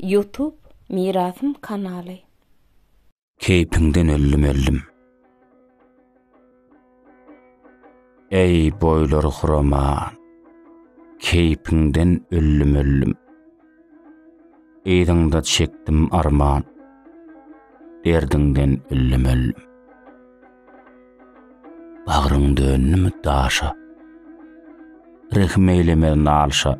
Ýutub mirasym kanaly. Keýpiňden öldüm öldüm. Eý boýlary huraman. Keýpiňden öldüm öldüm. Yzyňda çekdim arman. Derdiňden öldüm öldüm. Bagryň döndümi daşa. Rehim eýleme nalşa.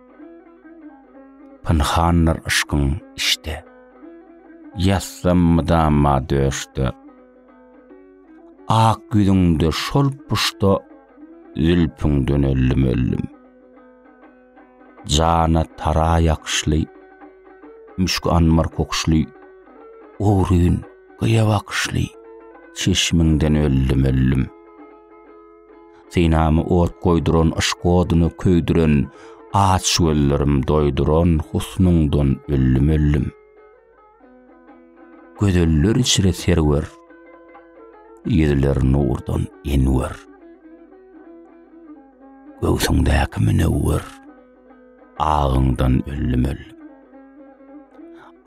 Pynhandyr yşkyň içde. Ýatsam mydama döşde. Ak ýüzüňde şol puşda Zülpüňden öldüm öldüm. Jana tara ýakyşly Müşk anmar kokuşly Ogryn gyýa bakyşly Çeşmiňden öldüm öldüm. Synamy ot goýduran yşk oduny köýdüren Aç gözlerim doýduran husnuňdan öllüm-öllüm. Gözeller içre serwer, ýüzler nurdan enwer. Göwsüňdäki münewwer. agyňdan öldüm öl.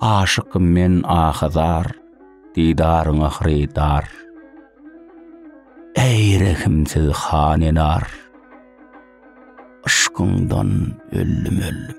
Aşykym men ahazar, didaryňa hyrydar. Eý rehimsiz han enar, yşkyňdan öldüm öl.